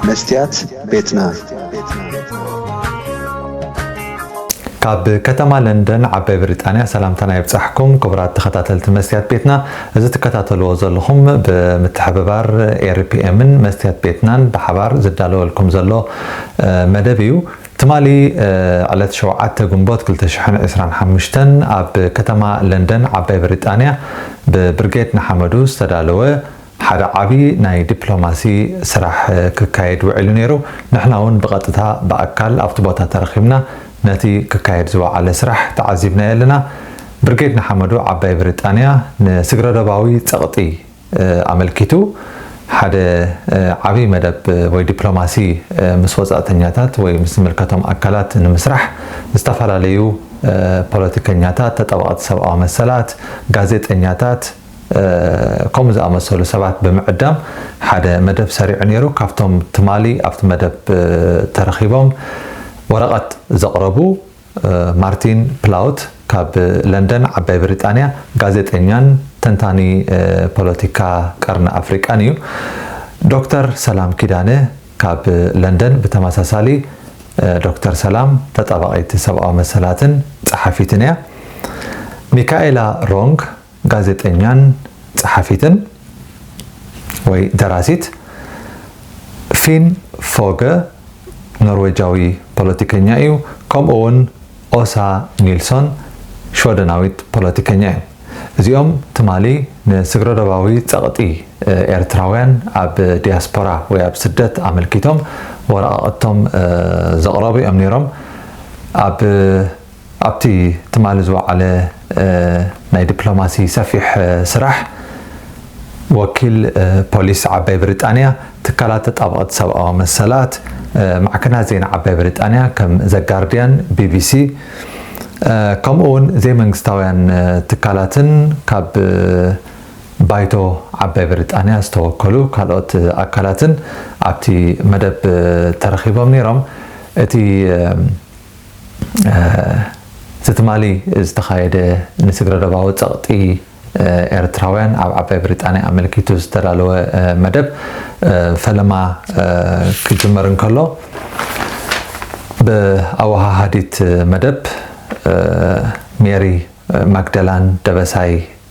መስትያት ቤትና ካብ ከተማ ለንደን ዓባይ ብሪጣንያ ሰላምታና ይብጻሕኩም ክቡራት ተኸታተልቲ መስትያት ቤትና እዚ ትከታተልዎ ዘለኹም ብምትሕብባር ኤሪፒኤምን መስትያት ቤትናን ብሓባር ዝዳለወልኩም ዘሎ መደብ እዩ ትማሊ ዕለት 7 ግንቦት 225 ኣብ ከተማ ለንደን ዓባይ ብሪጣንያ ብብርጌድ ንሓመዱ ዝተዳለወ ሓደ ዓቢ ናይ ዲፕሎማሲ ስራሕ ክካየድ ውዒሉ ነይሩ። ንሕና ውን ብቐጥታ ብኣካል ኣብቲ ቦታ ተረኺብና ነቲ ክካየድ ዝወዓለ ስራሕ ተዓዚብናዮ ኣለና። ብርጌድ ንሓመዱ ዓባይ ብሪጣንያ ንስግረዶባዊ ጸቕጢ ኣመልኪቱ ሓደ ዓቢ መደብ ወይ ዲፕሎማሲ ምስ ወጻእተኛታት ወይ ምስ ዝምልከቶም ኣካላት ንምስራሕ ዝተፈላለዩ ፖለቲከኛታት፣ ተጣበቕቲ ሰብኣዊ መሰላት፣ ጋዜጠኛታት፣ ከምኡ ዝኣመሰሉ ሰባት ብምዕዳም ሓደ መደብ ሰሪዑ ነይሩ። ካብቶም ትማሊ ኣብቲ መደብ ተረኺቦም ወረቐት ዘቕረቡ ማርቲን ፕላውት ካብ ለንደን ዓባይ ብሪጣንያ ጋዜጠኛን ተንታኒ ፖለቲካ ቀርኒ ኣፍሪቃን እዩ። ዶክተር ሰላም ኪዳነ ካብ ለንደን ብተመሳሳሊ ዶክተር ሰላም ተጣባቒት ሰብኣዊ መሰላትን ጸሓፊትን እያ። ሚካኤላ ሮንግ ጋዜጠኛን ጸሓፊትን ወይ ደራሲት ፊን ፎገ፣ ኖርወጃዊ ፖለቲከኛ እዩ፣ ከምኡ'ውን ኦሳ ኒልሶን፣ ሽወደናዊት ፖለቲከኛ እዮም። እዚኦም ትማሊ ንስግረዶባዊ ጸቕጢ ኤርትራውያን ኣብ ዲያስፖራ ወይ ኣብ ስደት ኣመልኪቶም ወረቓቕቶም ዘቕረቡ እዮም ነይሮም። ኣብ ኣብቲ ትማሊ ዝወዓለ ናይ ዲፕሎማሲ ሰፊሕ ስራሕ፣ ወኪል ፖሊስ ዓባይ ብሪጣንያ፣ ትካላት ተጣበቕቲ ሰብኣዊ መሰላት፣ ማዕከናት ዜና ዓባይ ብሪጣንያ ከም ዘ ጋርድያን፣ ቢቢሲ፣ ከምኡ'ውን ዘይመንግስታውያን ትካላትን ካብ ባይቶ ዓባይ ብሪጣንያ ዝተወከሉ ካልኦት ኣካላትን ኣብቲ መደብ ተረኺቦም ነይሮም። እቲ እዚ ትማሊ ዝተኻየደ ንስግረዶባዊ ጸቕጢ ኤርትራውያን ኣብ ዓባይ ብሪጣንያ ኣመልኪቱ ዝተዳለወ መደብ ፈለማ ክጅመር እንከሎ ብኣወሃሃዲት መደብ ሜሪ ማግደላን ደበሳይ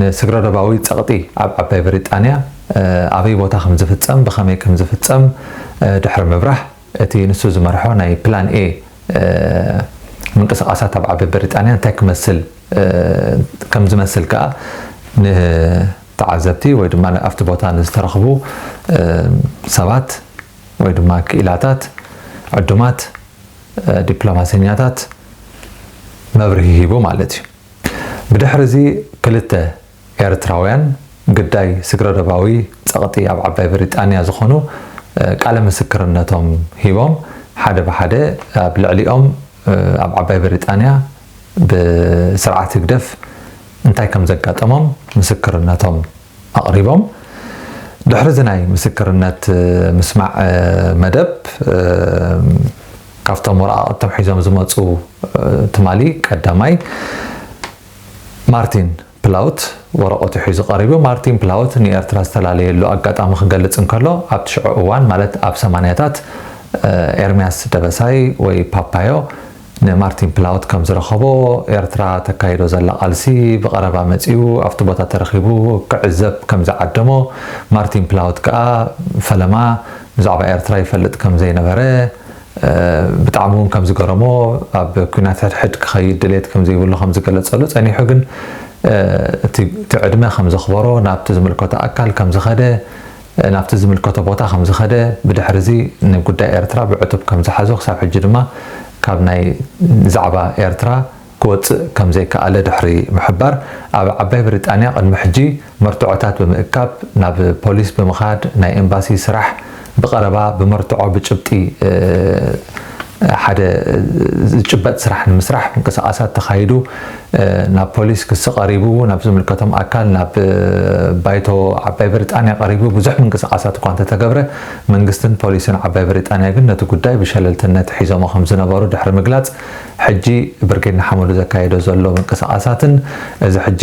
ንስግረዶባዊ ጸቕጢ ኣብ ዓባይ ብሪጣንያ ኣበይ ቦታ ከም ዝፍጸም ብኸመይ ከም ዝፍጸም ድሕሪ ምብራህ፣ እቲ ንሱ ዝመርሖ ናይ ፕላን ኤ ምንቅስቓሳት ኣብ ዓባይ ብሪጣንያ እንታይ ክመስል ከም ዝመስል ከኣ ንተዓዘብቲ ወይ ድማ ኣብቲ ቦታ ንዝተረኽቡ ሰባት ወይ ድማ ክኢላታት ዕዱማት ዲፕሎማሰኛታት መብርሂ ሂቡ ማለት እዩ። ብድሕሪ'ዚ ክልተ ኤርትራውያን ግዳይ ስግረዶባዊ ጸቕጢ ኣብ ዓባይ ብሪጣንያ ዝኾኑ ቃለ ምስክርነቶም ሂቦም፣ ሓደ ብሓደ ኣብ ልዕሊኦም ኣብ ዓባይ ብሪጣንያ ብስርዓት ህግደፍ እንታይ ከምዘጋጠሞም ምስክርነቶም ኣቕሪቦም። ድሕሪዚ ናይ ምስክርነት ምስማዕ መደብ ካብቶም ወረቓቕቶም ሒዞም ዝመጹ ትማሊ ቀዳማይ ማርቲን ፕላውት ወረቐቱ ሒዙ ቀሪቡ። ማርቲን ፕላውት ንኤርትራ ዝተላለየሉ ኣጋጣሚ ክገልጽ እንከሎ ኣብቲ ሽዑ እዋን ማለት ኣብ ሰማንያታት ኤርምያስ ደበሳይ ወይ ፓፓዮ ንማርቲን ፕላውት ከም ዝረኸቦ፣ ኤርትራ ተካይዶ ዘላ ቃልሲ ብቐረባ መጺኡ ኣብቲ ቦታ ተረኺቡ ክዕዘብ ከም ዝዓደሞ፣ ማርቲን ፕላውት ከኣ ፈለማ ብዛዕባ ኤርትራ ይፈልጥ ከም ዘይነበረ፣ ብጣዕሚ ውን ከም ዝገረሞ፣ ኣብ ኲናት ሕድሕድ ክኸይድ ድሌት ከም ዘይብሉ ከም ዝገለጸሉ፣ ጸኒሑ ግን እቲ ዕድመ ከም ዘኽበሮ ናብቲ ዝምልከቶ ኣካል ከም ዝኸደ ናብቲ ዝምልከቶ ቦታ ከም ዝኸደ፣ ብድሕሪዚ ንጉዳይ ኤርትራ ብዕቱብ ከም ዝሓዞ ክሳብ ሕጂ ድማ ካብ ናይ ዛዕባ ኤርትራ ክወጽእ ከም ዘይከኣለ ድሕሪ ምሕባር፣ ኣብ ዓባይ ብሪጣንያ ቅድሚ ሕጂ መርትዖታት ብምእካብ ናብ ፖሊስ ብምኻድ ናይ ኤምባሲ ስራሕ ብቐረባ ብመርትዖ ብጭብጢ ሓደ ዝጭበጥ ስራሕ ንምስራሕ ምንቅስቓሳት ተኻይዱ ናብ ፖሊስ ክሲ ቀሪቡ፣ ናብ ዝምልከቶም ኣካል ናብ ባይቶ ዓባይ ብሪጣንያ ቀሪቡ ብዙሕ ምንቅስቓሳት እኳ እንተተገብረ መንግስትን ፖሊስን ዓባይ ብሪጣንያ ግን ነቲ ጉዳይ ብሸለልትነት ሒዞሞ ከምዝነበሩ ድሕሪ ምግላጽ ሕጂ ብርጌድ ንሓመዱ ዘካይዶ ዘሎ ምንቅስቓሳትን እዚ ሕጂ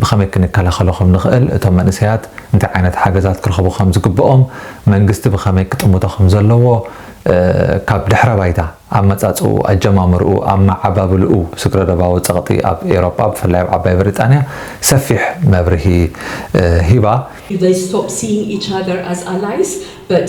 ብኸመይ ክንከላኸሎ ከም ንኽእል፣ እቶም መንእሰያት እንታይ ዓይነት ሓገዛት ክረኽቡ ከም ዝግብኦም፣ መንግስቲ ብኸመይ ክጥምቶ ከም ዘለዎ፣ ካብ ድሕረ-ባይታ፣ ኣመጻጽእኡ፣ ኣጀማምርኡ፣ ኣመዓባብልኡ፣ ስግረ-ዶባዊ ጸቕጢ ኣብ ኤውሮጳ፣ ብፍላይ ኣብ ዓባይ ብሪጣንያ፣ ሰፊሕ መብርሂ ሂባ። They stop seeing each other as allies but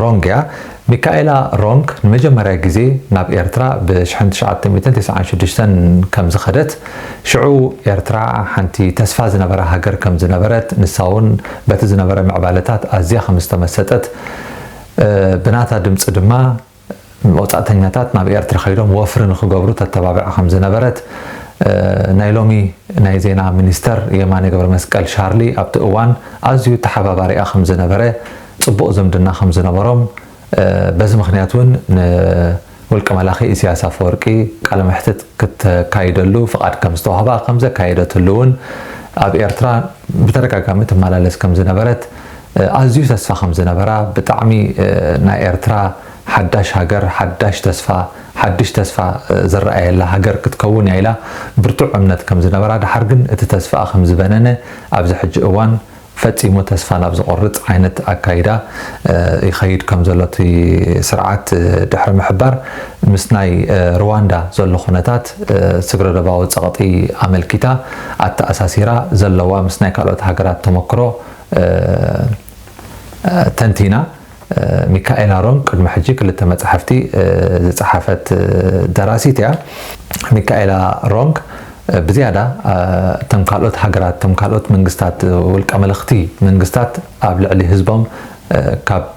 ሮንግ እያ ሚካኤላ ሮንግ ንመጀመርያ ግዜ ናብ ኤርትራ ብ ሽሕን ትሽዓተ ሚእትን ተስዓን ሽዱሽተን ከም ዝኸደት ሽዑ ኤርትራ ሓንቲ ተስፋ ዝነበራ ሃገር ከም ዝነበረት ንሳ ውን በቲ ዝነበረ ምዕባለታት ኣዝያ ከም ዝተመሰጠት ብናታ ድምጺ ድማ ወጻእተኛታት ናብ ኤርትራ ከይዶም ወፍሪ ንኽገብሩ ተተባብዕ ከም ዝነበረት ናይ ሎሚ ናይ ዜና ሚኒስተር የማነ ገብረመስቀል ሻርሊ ኣብቲ እዋን ኣዝዩ ተሓባባሪኣ ከም ዝነበረ ጽቡቕ ዝምድና ከም ዝነበሮም በዚ ምኽንያት እውን ን ውልቀ መላኺ ኢሲያስ ኣፈወርቂ ቃለ መሕትት ክተካይደሉ ፍቓድ ከም ዝተዋህባ ከም ዘካየደትሉ እውን ኣብ ኤርትራ ብተደጋጋሚ ትመላለስ ከም ዝነበረት ኣዝዩ ተስፋ ከም ዝነበራ ብጣዕሚ ናይ ኤርትራ ሓዳሽ ሃገር ሓዳሽ ተስፋ ሓድሽ ተስፋ ዝረኣየላ ሃገር ክትከውን እያ ኢላ ብርቱዕ እምነት ከም ዝነበራ ደሓር ግን እቲ ተስፋኣ ከም ዝበነነ ኣብዚ ሕጂ እዋን ፈጺሙ ተስፋ ናብ ዝቖርጽ ዓይነት ኣካይዳ ይኸይድ ከም ዘሎ እቲ ስርዓት ድሕሪ ምሕባር ምስ ናይ ርዋንዳ ዘሎ ኩነታት ስግረዶባዊ ጸቕጢ ኣመልኪታ ኣተኣሳሲራ ዘለዋ ምስ ናይ ካልኦት ሃገራት ተመክሮ ተንቲና ሚካኤል ኣሮን ቅድሚ ሕጂ ክልተ መጻሕፍቲ ዝጸሓፈት ደራሲት እያ። ሚካኤላ ሮንግ ብዝያዳ እቶም ካልኦት ሃገራት እቶም ካልኦት መንግስታት ውልቀ መለኽቲ መንግስታት ኣብ ልዕሊ ህዝቦም ካብ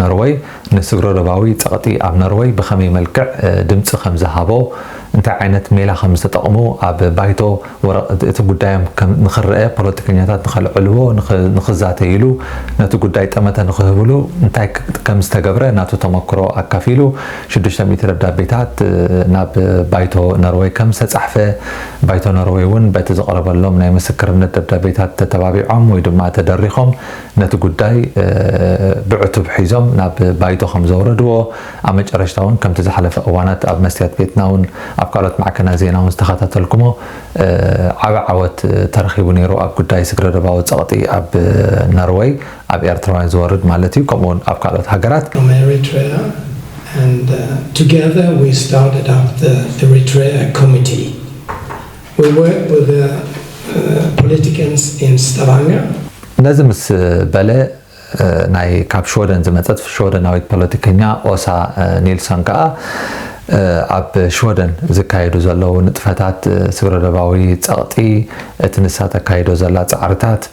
ኖርወይ ንስግረዶባዊ ጸቕጢ ኣብ ኖርወይ ብኸመይ መልክዕ ድምጺ ከም ዝሃቦ፣ እንታይ ዓይነት ሜላ ከም ዝተጠቕሙ፣ ኣብ ባይቶ ወረቕት እቲ ጉዳዮም ከም ንኽረኣ፣ ፖለቲከኛታት ንኸልዕልዎ፣ ንኽዛተይሉ፣ ነቲ ጉዳይ ጠመተ ንኽህብሉ እንታይ ከም ዝተገብረ ናቱ ተመክሮ ኣካፊሉ። ሽዱሽተ ሚእቲ ደብዳቤታት ናብ ባይቶ ኖርወይ ከም ዝተጻሕፈ፣ ባይቶ ኖርወይ'ውን በቲ ዝቐረበሎም ናይ ምስክርነት ደብዳቤታት ተተባቢዖም ወይ ድማ ተደሪኾም ነቲ ጉዳይ ብዕቱብ ሒዞም ናብ ባይቶ ከም ዘውረድዎ፣ ኣብ መጨረሽታ እውን ከምቲ ዝሓለፈ እዋናት ኣብ መስትያት ቤትና እውን ኣብ ካልኦት ማዕከናት ዜና እውን ዝተኸታተልኩሞ ዓቢ ዓወት ተረኺቡ ነይሩ ኣብ ጉዳይ ስግረዶባዊ ጸቕጢ ኣብ ነርወይ ኣብ ኤርትራውያን ዝወርድ ማለት እዩ ከምኡ እውን ኣብ ካልኦት ሃገራት from Eritrea and together we started up the Eritrea committee. We work with the politicians in Stavanger. ነዚ ምስ በለ ናይ ካብ ሽወደን ዝመጸት ሽወደናዊት ፖለቲከኛ ኦሳ ኒልሶን ከኣ ኣብ ሽወደን ዝካየዱ ዘለዉ ንጥፈታት ስግረዶባዊ ጸቕጢ እቲ ንሳ ተካይዶ ዘላ ጻዕርታት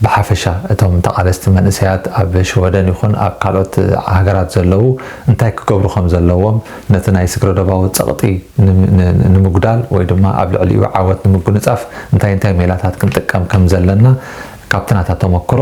ብሓፈሻ እቶም ተቓለስቲ መንእሰያት ኣብ ሽወደን ይኹን ኣብ ካልኦት ሃገራት ዘለዉ እንታይ ክገብሩ ከም ዘለዎም ነቲ ናይ ስግረዶባዊ ጸቕጢ ንምጉዳል ወይ ድማ ኣብ ልዕሊኡ ዓወት ንምጉንጻፍ እንታይ እንታይ ሜላታት ክንጥቀም ከም ዘለና ካብቲ ናታ ተመክሮ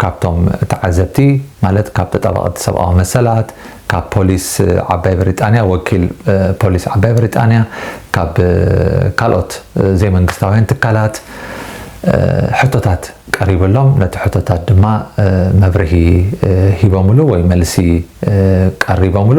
ካብቶም ተዓዘብቲ ማለት ካብ ተጣባቐቲ ሰብኣዊ መሰላት፣ ካብ ፖሊስ ዓባይ ብሪጣንያ፣ ወኪል ፖሊስ ዓባይ ብሪጣንያ፣ ካብ ካልኦት ዘይመንግስታውያን ትካላት ሕቶታት ቀሪብሎም ነቲ ሕቶታት ድማ መብርሂ ሂቦምሉ ወይ መልሲ ቀሪቦምሉ።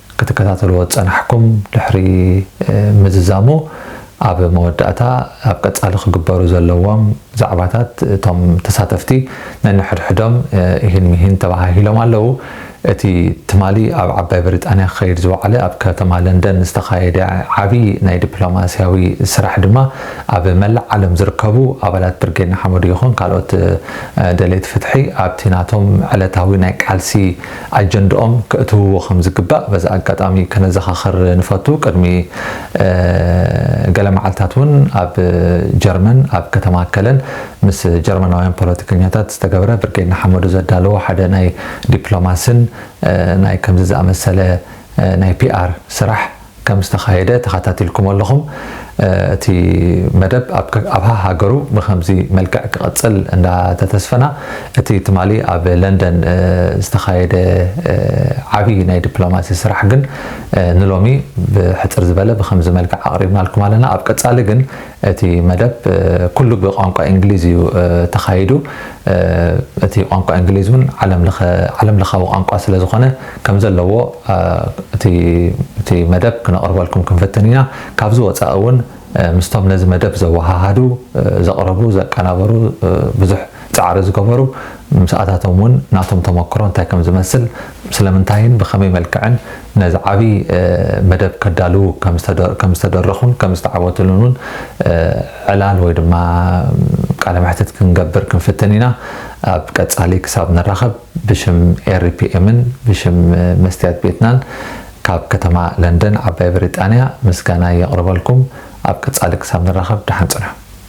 ክትከታተልዎ ዝጸናሕኩም ድሕሪ ምዝዛሙ ኣብ መወዳእታ ኣብ ቀጻሊ ክግበሩ ዘለዎም ዛዕባታት እቶም ተሳተፍቲ ነንሕድሕዶም ኢሂን ሚሂን ተበሃሂሎም ኣለዉ። እቲ ትማሊ ኣብ ዓባይ ብሪጣንያ ክኸይድ ዝወዓለ ኣብ ከተማ ለንደን ዝተኻየደ ዓቢ ናይ ዲፕሎማስያዊ ስራሕ ድማ ኣብ መላእ ዓለም ዝርከቡ ኣባላት ብርጌድ ንሓመዱ ይኹን ካልኦት ደለይቲ ፍትሒ ኣብቲ ናቶም ዕለታዊ ናይ ቃልሲ ኣጀንድኦም ከእትውዎ ከም ዝግባእ በዚ ኣጋጣሚ ከነዘኻኽር ንፈቱ። ቅድሚ ገለ መዓልታት እውን ኣብ ጀርመን ኣብ ከተማ ከለን ምስ ጀርመናውያን ፖለቲከኛታት ዝተገብረ ብርጌድ ንሓመዱ ዘዳለዎ ሓደ ናይ ዲፕሎማስን ናይ ከምዚ ዝኣመሰለ ናይ ፒኣር ስራሕ ከም ዝተኻየደ ተኻታቲልኩም ኣለኹም እቲ መደብ ኣብ ሃሃገሩ ብኸምዚ መልክዕ ክቐጽል እንዳ ተተስፈና እቲ ትማሊ ኣብ ለንደን ዝተኻየደ ዓቢ ናይ ድፕሎማሲ ስራሕ ግን ንሎሚ ብሕጽር ዝበለ ብኸምዚ መልክዕ ኣቕሪብናልኩም ኣለና ኣብ ቀጻሊ ግን እቲ መደብ ኩሉ ብቋንቋ ኢንግሊዝ እዩ ተኻይዱ። እቲ ቋንቋ ኢንግሊዝ እውን ዓለም ለኻዊ ቋንቋ ስለ ዝኾነ ከም ዘለዎ እቲ መደብ ክነቕርበልኩም ክንፍትን ኢና። ካብዚ ወፃኢ እውን ምስቶም ነዚ መደብ ዘወሃሃዱ፣ ዘቕረቡ፣ ዘቀናበሩ ብዙሕ ጻዕሪ ዝገበሩ ምስ ኣታቶም እውን ናቶም ተመክሮ እንታይ ከም ዝመስል፣ ስለምንታይን ብኸመይ መልክዕን ነዚ ዓቢ መደብ ከዳልዉ ከም ዝተደረኹን ከም ዝተዓወትሉን እውን ዕላል ወይ ድማ ቃለ መሕትት ክንገብር ክንፍትን ኢና። ኣብ ቀጻሊ ክሳብ ንራኸብ ብሽም ኤሪፒኤምን ብሽም መስትያት ቤትናን ካብ ከተማ ለንደን ዓባይ ብሪጣንያ ምስጋናይ የቕርበልኩም። ኣብ ቀጻሊ ክሳብ ንራኸብ ደሓን ጽንሑ።